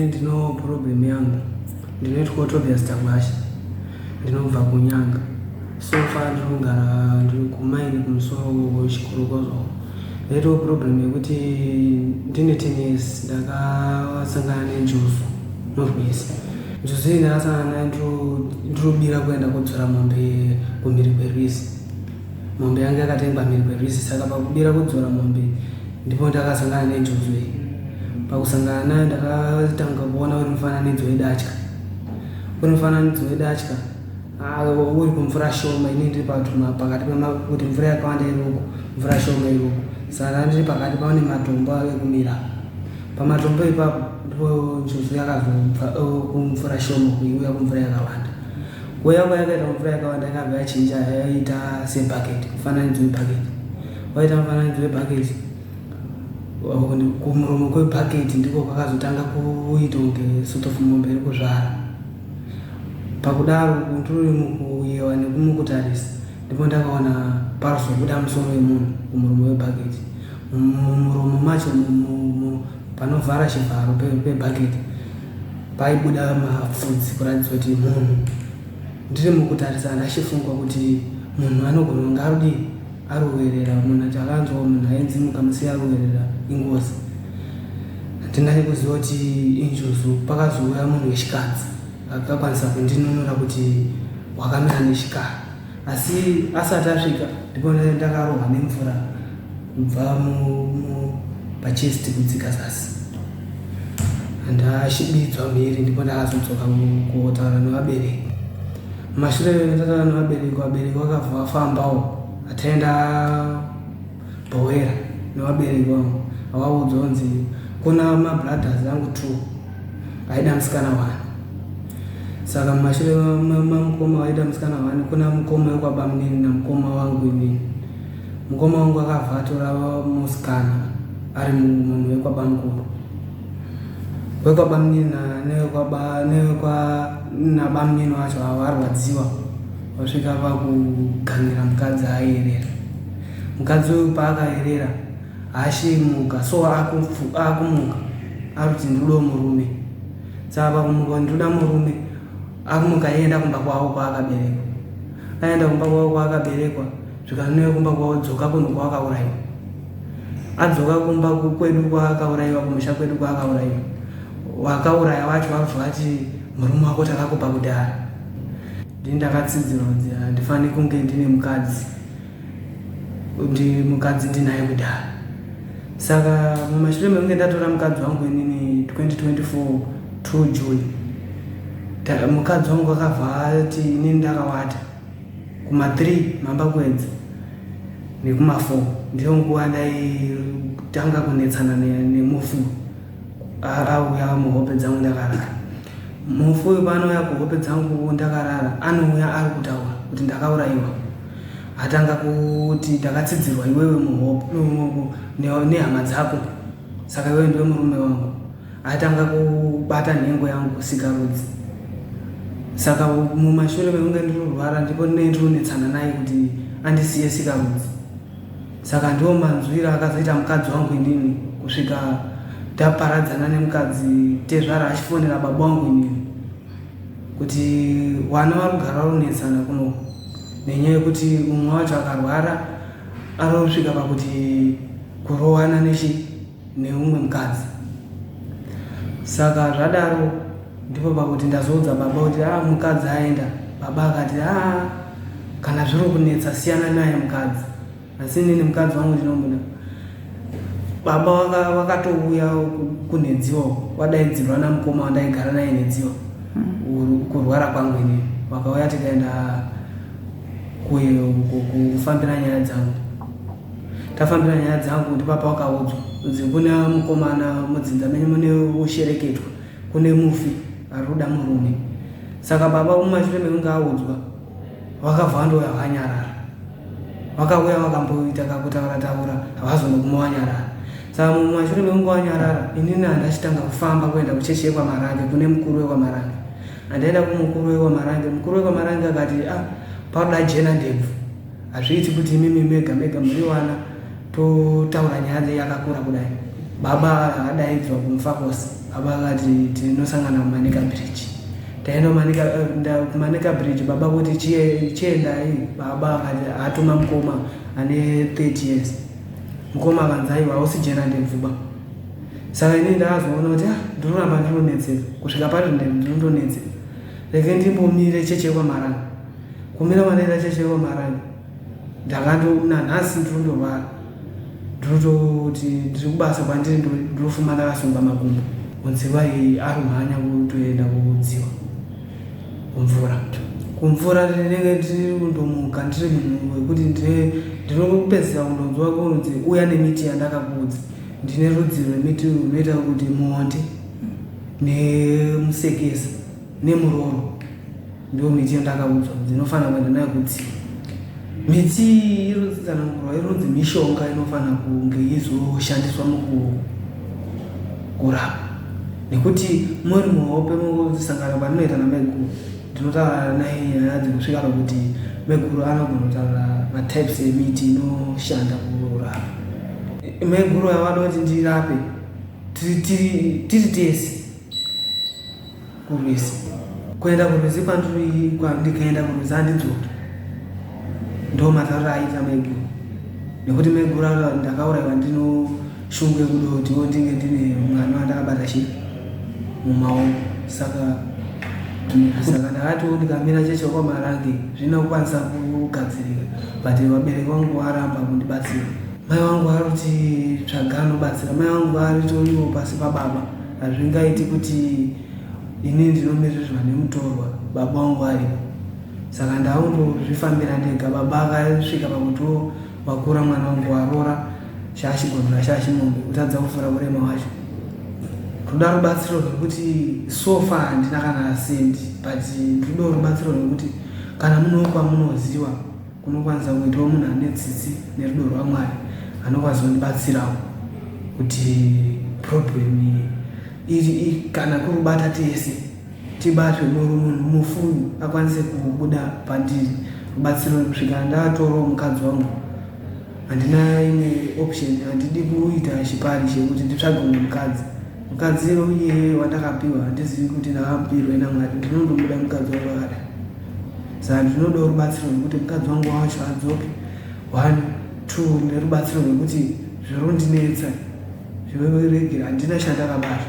Ndino problem yangu ndinoitwa Autobius Tangwasha ndinobva kuNyanga so far ndinogara ndiri kumaini kumusoro Chikorokozo ndaitawo problem yekuti ndine ten years ndakasangana nenjuzu norwese Njuzu ine asana naye ndinobira kuenda kodzora mombe kumhiri kwerwizi. Mombe yange yakatengwa mhiri kwerwizi saka pakubira kudzora mombe ndipo ndakasangana nenjuzu iyi. Pakusangana nayo ndakatanga kuona uri mufananidzo wedatya. Uri mufananidzo wedatya Haa uri kumvura shoma ini ndiri patuma pakati pemakuti mvura yakawanda iroko mvura shoma iroko saka ndiri pakati paone matombo ave kumira pamatombo ipapo ndipo njuzu yakazobva oh, kumvura shoma kuiuya kumvura yakawanda kuuya kwayakaita kumvura yakawanda yakabva yachinja yaita sebhaketi mufananidzo webhaketi waita mufananidzo webhaketi kumuromo kwebhaketi ndiko kwakazotanga kuita kunge sort of mombe iri kuzvara Pakudaro ndririmuku yewa nekumukutarisa ndipo ndakaona parzobuda musoro wemunhu kumuromo webhaketi. Mumuromo macho umu panovhara chivharo pebhaketi paibuda mapfudzi kuratidzwa kuti munhu. Ndiri mukutarisana ndachifunga kuti munhu anogona kunge arudii Aruwerera munhu achakanzwawo munhu ainzi mukamusiya aruwerera ingozi handinai kuziva kuti injuzu pakazouya munhu wechikadzi akakwanisa kundinunura kuti wakamira nechikara asi asati asvika ndipo ndakarohwa nemvura kubva pachest kudzika zasi handashibidzwa mhiri ndipo ndakazodzoka kuotaura nevabereki Mashure tatana nevabereki vabereki vakabva vafambawo ataenda bhowera nevabereki vangu avaudzwa kunzi kuna mabrothers angu two aida musikana wani saka mumashure mamukoma vaida musikana wani kuna mukoma wekwabamunini namukoma wangu inini mukoma wangu akabva atora musikana ari munhu wekwabamukuru wekwabamunini nabamnini wacho avo arwadziwa vasvika vakugangira mukadzi aerera mukadzi uyu paakaerera haashimuka so akumuka akuti ndiudo murume saka pakumuka ndiuda murume akumuka aenda kumba kwavo kwaakaberekwa aenda kumba kwavo kwaakaberekwa zvikanweyo kumba kwavo dzoka kunhu kwawakaurayiwa adzoka kumba kwedu kwaakaurayiwa kumusha kwedu kwaakaurayiwa wakauraya wacho wabva vati murume wako takakupa kudhara ndini ndakatsidzirwa kuti handifani kunge ndine mukadzi ndi mukadzi ndinaye kudhara saka mumashure mekunge ndatora mukadzi wangu inini 2024 2 june mukadzi wangu akabva ati inini ndakawata Kuma 3 mambakwedza nekuma 4 ndiyo nguva ndaitanga kunetsana nemufi auya muhope dzangu ndakarara. Mufi uyu paanouya kuhope dzangu ndakarara anouya ari kutaura kuti ndakaurayiwa. Atanga kuti ndakatsidzirwa iwewe muhope nehama dzako saka iwewe ndiwe murume wangu. Atanga kubata nhengo yangu sikarudzi saka mumashure mekunge ndirurwara ndipo ndinenge ndironetsana naye kuti andisiye sikarudzi saka ndiwo manzwira akazoita mukadzi wangu inini kusvika taparadzana nemukadzi tezvara achifonera baba wangu inini kuti wana vari kugara varonetsana kuno nenyaya yekuti mumwe wacho akarwara arosvika pakuti kurowana nechi neumwe mukadzi saka zvadaro ndipo pakuti ndazoudza baba kuti a ah, mukadzi aenda baba akati a ah, kana zviri kunetsa siyana naye mukadzi asi nini mukadzi wangu ndinomuda baba wakatouya waka kunhedziwa wadaidzirwa namukoma wandaigara naye nhedziwa hmm. kurwara kwangu ini vakauya tikaenda kufambira nyaya dzangu Tafambira nyaya dzangu ndipo pawakaudzwa kunzi kuna mukomana mudzinza menyu mune woshereketwa kune mufi ari kuda murume saka baba mumashure mekunge audzwa wakavandouya wakanyarara vakauya vakamboita kakutaura taura havazone kuma wanyarara saka mumashure mekunge wanyarara inini handachitanga kufamba kuenda kuchechi yekwamarange kune mukuru wekwamarange handaenda kumukuru wekwamarange mukuru wekwamarange akati a ah, paruda jena ndebvu Hazviiti kuti imimi mega mega muriwana totaura nyaya dzenyu yakakura kudai. Baba akadaidzwa kumfa kose. Baba akati tinosangana kumanika bridge. Taenda kumanika eh, nda- kumanika bridge baba kuti "Chie- chiendai. Baba akati atuma mukoma ane 30 years. Mukoma akanzi aiwa hausi jena ndemvuba. Saka ini ndakazoona kuti ah, ndoramba ndinonetseka kusvika pari ndinonetseka. Rege ndimbomire cheche kwamaranga. kumira malaria chachaiwa marani ndakato nanhasi ndinondorwara ndinototi ndiri kubasa kwandiri ndinofuma ndakasunga makumbo kunziva iyi ari kumhanya kutoenda kudziwa kumvura kumvura ndinenge ndiri kundomuka ndiri munhu wekuti ndinopedzisa kundonzwa kunzi uya nemiti yandakakuudza ndine rudzi rwemiti runoita kuti muonde nemusekesa nemuroro ndiwo miti yandakaudzwa ndinofanira kuenda nayo kutsi miti irotsanangurwa ironzi mishonga inofanira kunge izoshandiswa mukurapa nekuti muri muhope mukusangana kwandinoita namaiguru ndinotaura naye nyaya dzinosvika pakuti maiguru anogona kutaura matypes emiti inoshanda kurapa maiguru avada kuti ndirape tiri tese kurwizi kuenda kurwizi kwandikaenda kurwizi andidzoki ndo mazarura aita maiguru nekuti maiguru aa ndakauraiwa ndino shungu yekuda kuti wondinge ndine mwana wandakabata chi mumaoko saka saka ndakatiwo ndikamira cheche kwamarange zvina kukwanisa kugadzirika but vabereki vangu varamba kundibatsira mai vangu vari kuti tsvaga anobatsira mai vangu vari toriwo pasi pababa Hazvingaiti kuti ini ndinomirirwa nemutorwa baba wangu aripo. Saka ndaongozvifambira ndega. Baba akasvika pakutiwo wakura mwana wangu waroora shashi gono nashashi mombe kutadza kufura kurema wacho. Toda rubatsiro rwekuti so far handina kana sendi but ndinoda rubatsiro rwekuti kana munewo kwamunoziva Kunokwanisa kuitwa munhu ane tsitsi nerudo rwaMwari anokwanisa kundibatsirawo kuti problem iyi kana kuri kubata tese tibatwe muru munhu mufumi akwanise kubuda pandiri rubatsiro kusvika ndatorawo mukadzi wangu handina imwe option handidi kuita chipari chekuti nditsvage mumwe mukadzi Mukadzi uye wandakapiwa handizivi kuti ndakamupirwe naMwari ndinondomuda mukadzi wangu akada saka ndinodawo rubatsiro rwekuti mukadzi wangu wacho adzoke one two nerubatsiro rwekuti zvirondinetsa zvireregera handina chandakabata